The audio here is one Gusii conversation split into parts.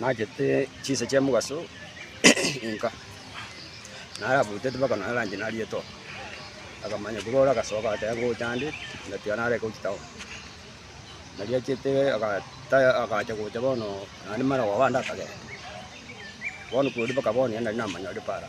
Naachete chinsa chi'omogaso inka, narabwatete mpaka nonya lunch nariete oo. Akamanya korwa ore agasoka agateba ngocha ande, ngatiga narenge gochia town. Nariachete agataya agacha gocha bono naende mara koba ande akagenda. Bono korwa mpaka bono nigo nari namanya ore paara.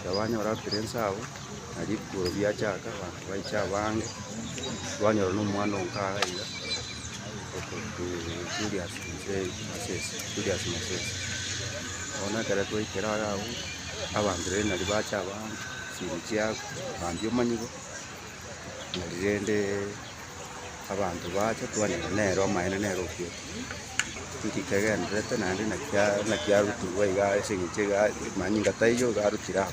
ekero banyora abapire inse abwo, na rikuro riachaka, abanto baicha abange, twanyora na omwana oo nkaga iga, okorokwa Julius Mosee, Moses, Julius Moses. Bono ekero twaikire are agwo, abanto rende nario bacha abange, chibwi chiakwa, bambia omonyigo, nari rende. abanto baacha twanyora nere omaene nere ofiete, nki kegendererete naende naki a naki arutigwe iga ase eng'encho iga manyinga taiyo iga arutire aa.